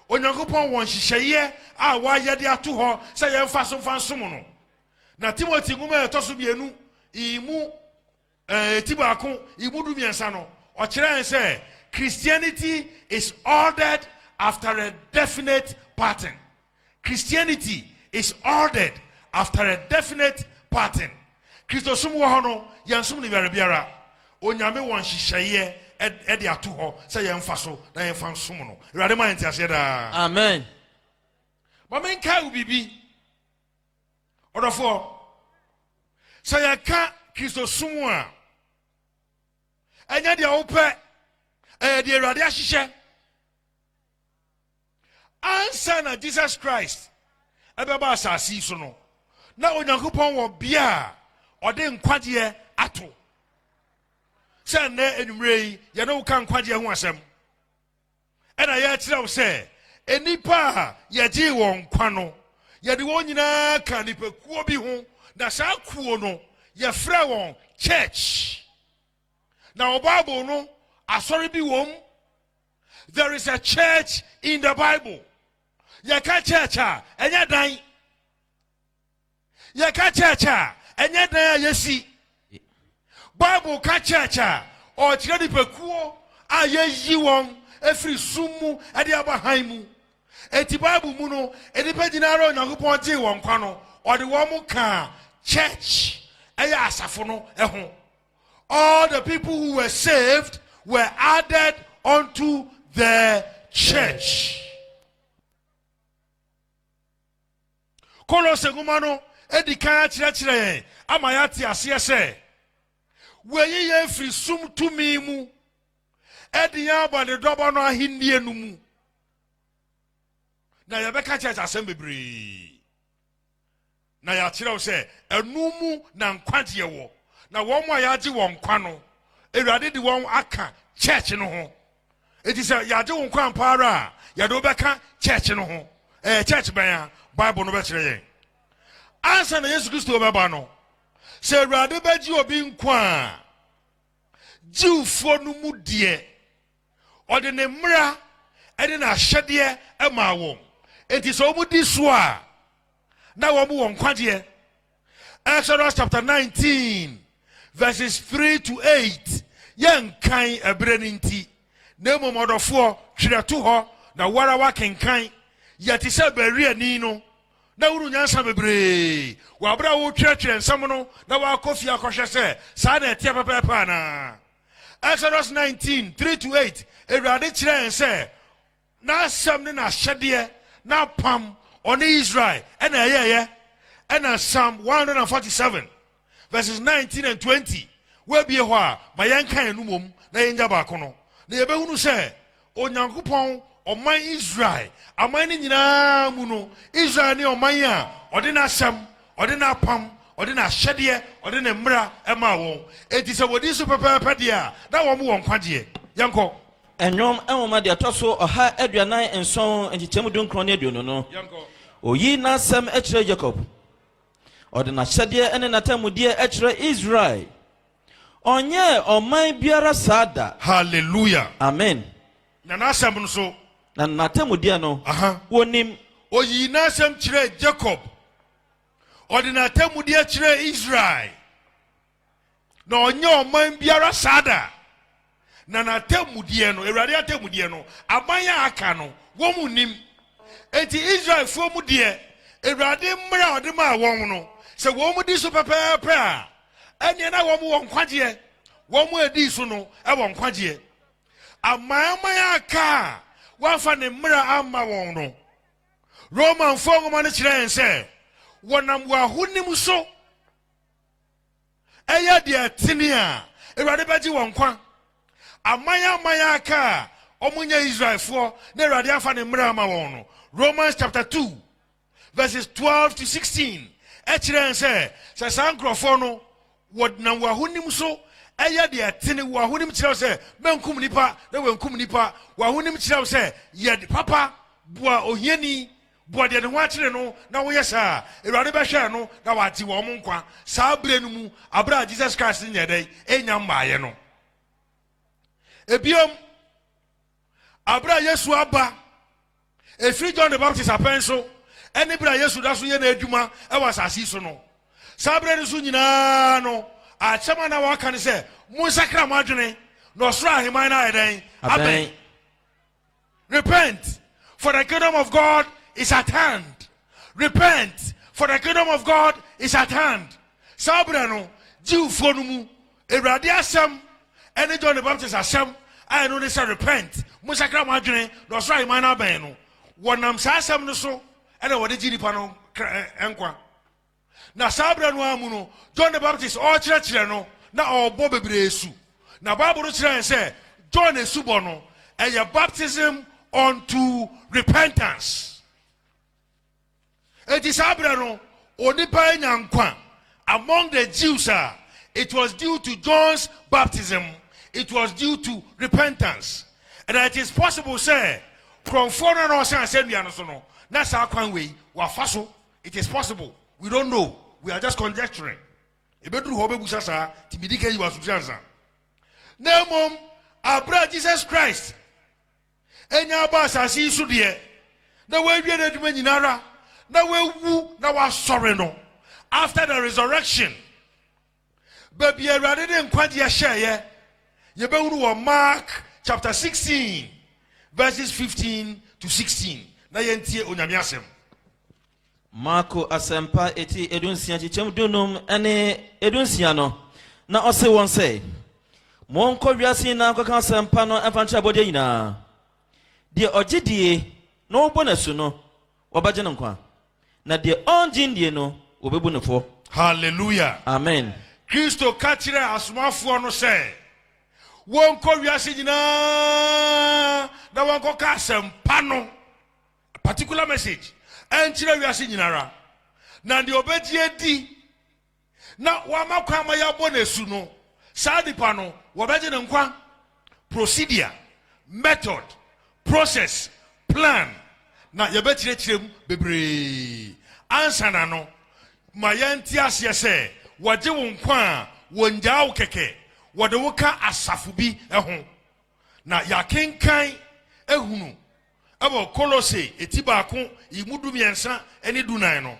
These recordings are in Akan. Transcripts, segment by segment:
Onyankopɔn wɔ nhyehyɛeɛ a wayɛ de ato hɔ sɛ yɛmfa so mfa nsom no. Na Timothy nwoma a ɛtɔ so mmienu I mu eh, ti baako I mu du mmiɛnsa no, ɔkyerɛ yɛn sɛ Christianity is ordered after a definite pattern. Christianity is ordered after a definite pattern. Kristosom wɔ hɔ no, yɛnsom no yare biara. Onyame wɔ nhyehyɛeɛ de ato hɔ sɛ yɛmfa so na yɛmfa nsom no. Awurade ma yɛn nteaseɛ daa. Amen. Ma menkae wo biribi. Ɔdɔfoɔ, sɛ yɛka Kristosom a, ɛnyɛ deɛ wopɛ, ɛyɛ deɛ Awurade ahyehyɛ. Ansa na Jesus Christ bɛba asase yi so no, na Onyankopɔn wɔ bea a ɔde nkwagyeɛ ato. Sɛ nnɛ anwummerɛ yi yɛne wo ka nkwagyeɛ ho asɛm, ɛna yɛkyerɛ wo sɛ nnipa a yɛgyee wɔn nkwa no, yɛde wɔn nyinaa ka nnipakuo bi ho, na saa kuo no yɛfrɛ wɔn church. Na wɔ Bible no, asɔre bi wɔ mu. There is a church in the Bible. Yɛka church a, ɛnyɛ dan. Yɛka church a, ɛnyɛ dan a yɛsi. Bible ka church a, ɔkyerɛ nipakuo a yɛyi wɔn ɛfiri sum mu ɛde aba han mu. Eti Bible mu no, nnipa nyinaa a Onyankopɔn gyee wɔn kwa no, ɔde wɔn kaa church ɛyɛ asafo no ho. All the people who were saved were added unto the church. Kolose nwoma no edi kan akyerɛkyerɛ yɛn ama yɛate aseɛ sɛ wɔayi yɛn firi sum tumi mu ɛde yɛn aba ne dɔbɔ no ahennie no mu na yɛbɛka church asɛm bebree na yɛakyerɛw sɛ ɛno mu na nkwagyeɛ wɔ, na wɔn a yɛagye wɔn nkwa no, Awurade de wɔn aka church no ho. Enti sɛ yɛagye wo nkwa ampa ara a, yɛde wo bɛka church no ho. Ɛyɛ church bɛn a? Bible no bɛkyerɛ yɛn. Ansa na Yesu Kristo bɛba no, sɛ Awurade bɛgye obi nkwa a, Jewfoɔ no mu deɛ, Ɔde ne mmara ne n'ahyɛdeɛ maa wɔn. Enti sɛ wɔdi so a, na wɔn wɔ nkwagyeɛ. Exodus chapter 19 verses 3 to 8 yɛnkan ɛberɛ no nti, na mmom ɔdɔfoɔ twerɛ to hɔ na wara wakenkan. Yɛ te sɛ Bereani no na wunu nyansa bebree wɔ aberɛ a woretwerɛtwerɛ nsɛm no na woakɔ fie akɔhwɛ sɛ saa na ɛteɛ pɛpɛɛpɛ anaa. Exodus nineteen three to eight, Awurade kyerɛɛ yɛn sɛ N'asɛm ne N'ahyɛdeɛ, N'apam, Ɔne Israel ɛna ɛyɛeɛ. Ɛna Psalm one hundred and forty seven verses nineteen and twenty, woabie hɔ a, ma yɛnka yɛn anom wɔ mu na yɛnya baako no, na yɛbɛhunu sɛ Onyankopɔn ɔman Israel. Aman no nyinaa mu no, Israel ne ɔman a ɔde n'asɛm, ɔde n'apam, ɔde n'ahyɛdeɛ, ɔde ne mmara maa wɔn. Enti sɛ wɔdi so pɛpɛɛpɛ deɛ a, na wɔn wɔ nkwagyeɛ. Yɛnkɔ. Nnwom nwoma deɛ ɛtɔ so ɔha aduanan nson nkyekyɛmu dunkron ne aduonu no. Yɛnkɔ. Ɔyi n'asɛm kyerɛ Yakob. Ɔde n'ahyɛdeɛ ne n'atanmudeɛ kyerɛ Israel. Ɔnyɛɛ ɔman biara saa da. Hallelujah. Amen. Na n'asɛm nso. Na n'atemmudeɛ no, wɔnim. Ɔyii n'asɛm kyerɛɛ Jacob. Ɔde n'atemmudeɛ kyerɛɛ Israel. Na ɔnyɛɛ ɔman biara saa da. Na n'atemmudeɛ no, Awurade atemmudeɛ no, aman a aka no, wɔn nnim. Enti Israelfoɔ mu deɛ, Awurade mmara a ɔde maa wɔn no, sɛ wɔn di so pɛpɛɛpɛ a, ɛnneɛ na wɔn wɔ nkwagyeɛ. Wɔn a ɛdii so no wɔ nkwagyeɛ. Amanaman a aka a wɔamfa ne mmara amma wɔn no, Romanfoɔ nwoma no kyerɛ yɛn sɛ wɔnam wɔn ahonim so Ɛyɛ deɛ ɛtene a, Awurade bɛgye wɔn nkwa. Aman aman a aka a wɔnyɛ Israelfoɔ na Awurade amfa ne mmara ama wɔn no, Romans chapter 2 verses 12 to 16 kyerɛ yɛn sɛ, sɛ saa nkurɔfoɔ no wɔdenam wɔn ahonim so ɛyɛ deɛ ɛtene, wɔn ahonim kyerɛ wo sɛ mɛnkum nipa na wɔankum nipa, wɔn ahonim kyerɛ wo sɛ yɛ papa, boa ohiani, Boa deɛ ne ho akyere no, na woyɛ saa a, Awurade bɛhwɛɛ no na wagye wɔn nkwa saa berɛ no mu, berɛ a Jesus Christ no nyɛɛ dɛn? Ɛnya mmaaeɛ no. Ebiom, berɛ a Yesu aba, ɛfiri John the Baptist apɛn so, ɛne berɛ a Yesu da so yɛ n'adwuma ɛwɔ asase so no, saa berɛ no so nyinaa no, akyɛm a na wɔaka no sɛ, monsakra mo adwene, na ɔsoro aheman no ayɛ dɛn? Abɛn. Repent, for the kingdom of God is at hand. Repent, for the kingdom of God is at hand. Saa berɛ no, Jewfoɔ no mu Awurade asɛm ɛne John the Baptist asɛm a ɛno ne sɛ repent, monsakra mo adwene na ɔsoro ahemman no abɛn no. Wɔnam saa asɛm no so ɛna wɔde gye nnipa no nkwa. Na saa berɛ no ara mu no, John the Baptist ɔrekyerɛkyerɛ no, na ɔrebɔ bebree asu. Na Bible no kyerɛ yɛn sɛ John asubɔ no, ɛyɛ baptism unto repentance. Enti saa berɛ no, onipa anya nkwa among the Jews a, it was due to John's baptism, it was due to repentance. And it is possible sɛ, korɔmfoɔ no a na ɔsɛn asɛnnua no so no, na saa kwan wei wafa so It is possible, we don't know, we are just conjecturing. Ebeduru hɔ ɔbɛbusa saa, ti midi kan yi wɔ asomsi ansa. Na mmom, abere a Jesus Christ anya aba asase yi so deɛ, na wawie n'adwuma nyinara, na wawu na wasɔre no, after the resurrection, Baabi a Awurade de nkwagyeɛ hyɛeɛ, yɛbɛhunu wɔ Mark chapter 16 verses 15 to 16 na yɛntie Onyame asɛm. Marko asɛmpa eti edunsia kyekyɛm dunum ne edunsia no na ɔse wɔn sɛ monkɔ wiase nyinaa nkɔka asɛmpa no mfa nkyerɛ abɔdeɛ nyinaa deɛ ɔgye die na ɔbɔ n'asu no Wɔbɛgye no nkwa, na deɛ ɔnnye nnie no, wɔbɛbu no fɔ. Hallelujah. Amen. Kristo ka kyerɛɛ asomafoɔ no sɛ wɔnkɔ wiase nyinaa na wɔnkɔka asɛmpa no particular message ɛnkyerɛ wiase nyinara na deɛ ɔbɛgye adi na wama kwan ma yɛabɔ no asu no, saa nipa no, wɔbɛgye ne nkwa. Procedure, method, process, plan, na yɛbɛkyerɛkyerɛ mu bebree ansa na no ma yɛnte aseɛ sɛ wɔgye wo nkwa a, wɔngyaa wo kɛkɛ, wɔde wo ka asafo bi ho. Na yɛakenkan ahunu wɔ Kolose ti baako yi mu du mmiɛnsa ne du nan no.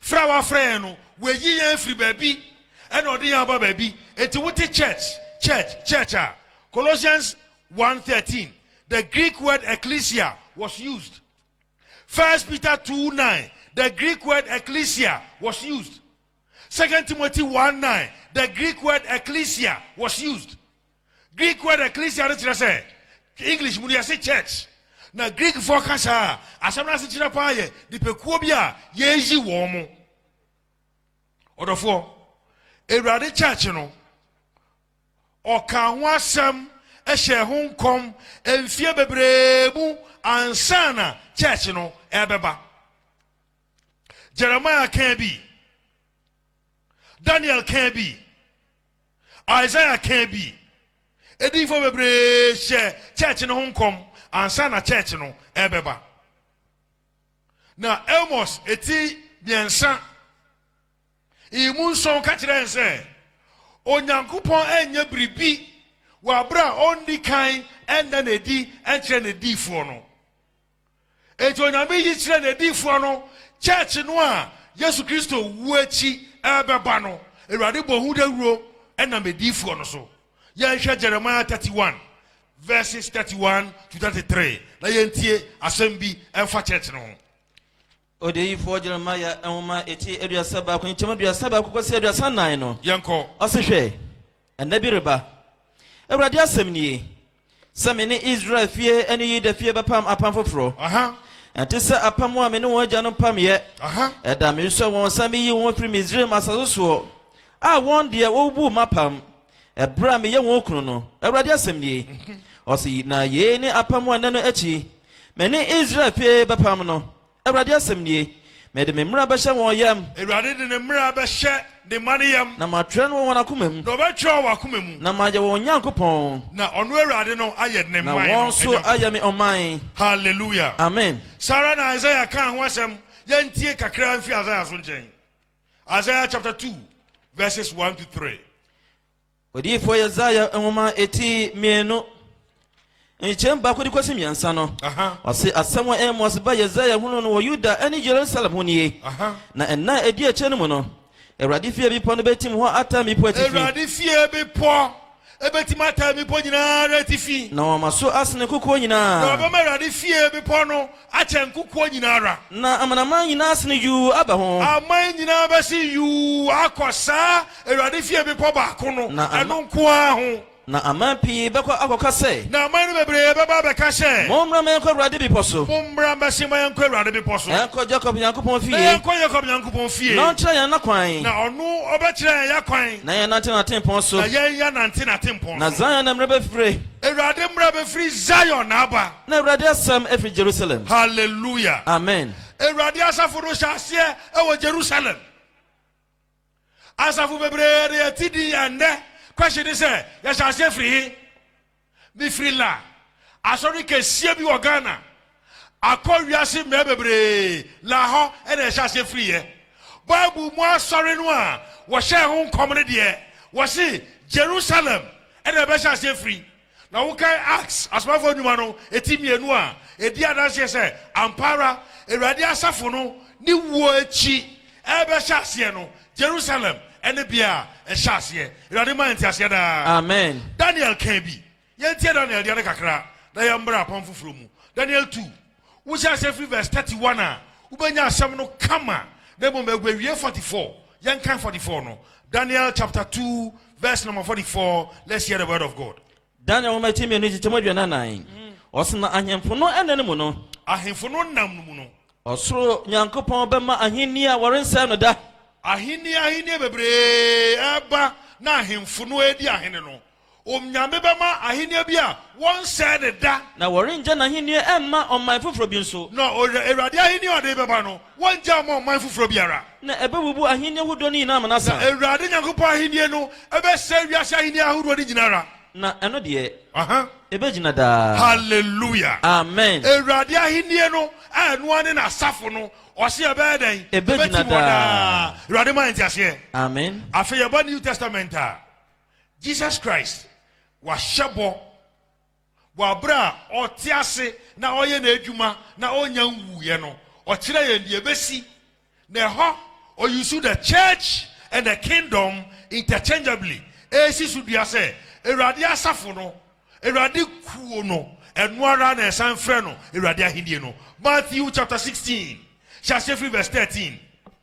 Frɛ a wafrɛ yɛn no, wayi yɛn afiri baabi na ɔde yɛn aba baabi. Enti wote church, church, church a, Colossians one thirteen, the Greek word ekklesia was used. First Peter two nine, the Greek word ekklesia was used. Second Timothy one nine, the Greek word ekklesia was used. Greek word ekklesia no kyerɛ sɛ English mu de ɛse church, na Greekfoɔ ka saa a, asɛm no asekyerɛ paa yɛ nnipakuo bi a yɛreyi wɔn. Ɔdɔfoɔ, Awurade church no, ɔkaa ho asɛm hyɛɛ ho nkɔm mfeɛ bebree mu ansa na church no ɛrebɛba. Jeremiah kaa bi, Daniel kaa bi. Isaiah kãa bi. Ediyifo bebree hyɛɛ church no ho nkɔm ansa na church no rebɛba. Na Amos ti mmiɛnsa emu nson ka kyerɛ yɛn sɛ Onyankopɔn renyɛ biribi wɔ abere a ɔnni kan nna no adi nkyerɛ n'adiyifoɔ no. Enti Onyame yi kyerɛɛ n'adiyifoɔ no Church no a Yesu Kristo wuo akyi ɛrebɛba no. Awurade bɔ ho dawuro ɛnam adiyifoɔ no so. Yɛnhwɛ Jeremiah 31 verses 31-33 na yɛntie asɛm bi ɛfa Church no ho. Odiyifoɔ Jeremia nwoma a ɛti aduasa baako nkyem aduasa baako kɔsi aduasa nnan no, Yɛnkɔ. ɔse, Hwɛ! Nna bi reba, Awurade asɛm nie, sɛ me ne Israel fie ne Yuda fie bɛpam apam foforɔ, Aha! ɛnte sɛ apam a me ne wɔn agyanom pameeɛ Aha! ɛda a meresɔe wɔn sɛ meyi wɔn afiri Misraim asase soɔ, a wɔn deɛ wɔbubuu m'apam Ɛberɛ a meyɛ wɔn kunu no, Awurade asɛm nie, ɔse, na yei ne apam a nnɛ no akyi me ne Israel fie bɛpam no, Awurade asɛm nie, Mede me mmara bɛhyɛ wɔn yam. Awurade de ne mmara bɛhyɛ ne mma no yam. Na matwerɛ no wɔ wɔn akoma mu. Na ɔbɛtwerɛ wɔ wɔn akoma mu. Na mayɛ wɔn Nyankopɔn. Na ɔno Awurade no ayɛ ne man no Nyankopɔn. Na wɔn nso ayɛ me ɔman. Hallelujah. Amen. Saa ara na Isaiah kaa ho asɛm. Yɛntie kakra mfiri Isaiah so nkyɛn. Isaiah chapter 2, verses 1 to 3. Odiyifoɔ Yesaia nwoma eti mmienu nkyɛn baako de kɔsi mmiɛnsa no ɔse asɛm a Amos ba Yesaia hunu no wɔ Yuda ne Yerusalem ho nie na ɛnna a ɛdi akyire no mu no Awurade fie bepɔ no bɛtim hɔ ata mmepo atifi Awurade fie bepɔ Ebetumi ataa mmepɔ nyina ara atifi. Na wama so asene nkokoɔ nyina ara. Na wɔbɛma Awurade fie bepɔ no akyɛn nkokoɔ nyina ara. Na amanaman nyina asene yuu aba ho. Aman nyina ara bɛse yuu akɔ saa Awurade fie bepɔ baako no, ɛno nko ara ho. Na aman pii bɛkɔ akɔka sɛ. Na aman no bebree bɛba abɛka sɛ. Mommra ma yɛnkɔ Awurade bepɔ so. Mommra mɛse ma yɛnkɔ Awurade bepɔ so. Yɛnkɔ Yakob Nyankopɔn fie. Na yɛnkɔ Yakob Nyankopɔn fie. Na ɔnkyerɛ yɛn n'akwan. Na ɔno ɔbɛkyerɛ yɛn y'akwan. Na yɛnnante n'atempɔn so. Na yɛnyɛ nante n'atempɔn so. Na Zion na mmara bɛfire. Awurade mmara bɛfiri Zion na aba. Na Awurade asɛm afiri Jerusalem. Hallelujah. Amen. Awurade asafo no hyɛ aseɛ wɔ Jerusalem. Asafo bebree de yɛte din ɛnnɛ. Question ne sɛ, yɛhyɛ aseɛ firi he? Mefiri la asɔre kɛseɛ bi wɔ Ghana akɔ wiase mmerɛ bebree la hɔ na ɛhyɛ aseɛ firiiɛ. Bible mu asɔre no a wɔhyɛɛ ho nkɔm no deɛ wɔse Jerusalem na ɛbɛhyɛ aseɛ firi. Na wokan Acts, Asomafoɔ Nnwuma no ti mmienu a, ɛdi adanseɛ sɛ ampa ara Awurade asafo no ne wuo akyi ɛrebɛhyɛ aseɛ no, Jerusalem ne bea a ɛhyɛ aseɛ. Awurade ma yɛn nteaseɛ daa. Amen. Daniel kan bi. Yɛntie Daniel deɛ no kakra na yɛmmra apam foforɔ mu. Daniel 2, wohyɛ aseɛ firi verse 31 a, wobɛnya asɛm no kama na mmom ɛguawie 44. Yɛnkan 44 no. Daniel chapter 2 verse number 44. Let's hear the word of God. Daniel nwoma ti mmienu nkyekyɛmu aduanan nnan. Ɔsena ahemfo no nna no mu no. Ahemfo no nna no mu no. Ɔsoro Nyankopɔn bɛma ahenni a wɔrensɛe no da. Ahenni ahenni bebree reba na ahemfo no redi ahene no. Onyame bɛma ahenni bi a wɔrensɛe no da. Na wɔrengya n'ahenni mma ɔman foforɔ bi nso. Na Awurade ahenni a ɔde bɛba no Wɔrennyaa mo ɔman foforɔ biara. Na ɛbɛbubu ahennie hodoɔ no nyina ara amena sa. Na Awurade Nyankopɔn ahennie no bɛsɛe wiase ahennie ahodoɔ no nyina ara. Na ɛno deɛ, ɛbɛgyina daa. Hallelujah! Amen! Awurade ahennie no, a ɛno ara ne N'asafo no, Ɔse ɛbɛyɛ dɛn? Ɛbɛtim hɔ daa. Awurade ma yɛn nteaseɛ. Amen! Afei yɛba New Testament a, Jesus Christ, Wahyɛ bɔ, Wɔ bere a ɔte ase na ɔyɛ n'adwuma na onnya nwuiɛ no, ɔkyerɛ yɛn deɛ ɛbɛsi. Na ɛhɔ ɔyusu the church and the kingdom interchangeably ɛresi so dua sɛ Awurade asafo no, Awurade kuo no, ɛno ara na ɛsan frɛ no Awurade ahennie no. Matthew chapter sixteen, hyɛ aseɛ firi verse thirteen.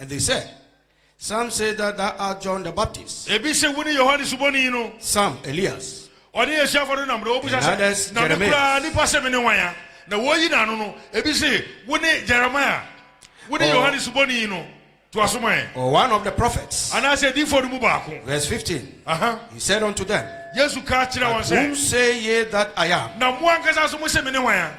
Ɛde sɛ, Some say that thou art John the Baptist. Ebi se wone Yohane Suboni no. Some, Elias. Ɔne n'asuafo no nam na wɔbisa sɛ, Na me koraa nipa se mene hwan a? Na wɔyi n'ano no, ebi se, Wone Jeremiah. Wone oh. Yohane Suboni no. To aso ma yɛn. Or one of the prophets. Anaasɛ adiyifoɔ no mu baako. Verse 15. Aha. He said unto them. Yesu ka kyerɛ wɔn sɛ. Whom say ye that I am? Na mo ankasa so mo se mene hwan a?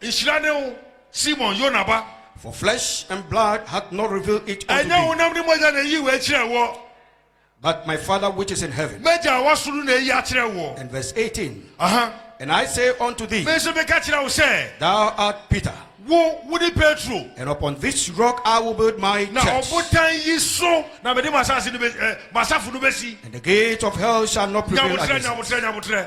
Nhyira ne wo, Simon, Yona ba. For flesh and blood hath not revealed it unto Ɛnyɛ thee, honam ne mogya na eyi wei kyerɛɛ woɔ, but my Father which is in heaven. m'Agya a ɔwɔ soro no na eyi akyerɛ woɔ. And verse 18, Aha, And I say unto thee, me nso meka kyerɛ wo sɛ, Thou art Peter, wo, wone Petro, and upon this rock I will build my na church, ɔbotan yi so na mede m'asase no bɛ- eh, m'asafo no bɛsi. and the gates of hell shall not prevail Nyabotrɛ, against it. nyabotrɛ, nyabotrɛ.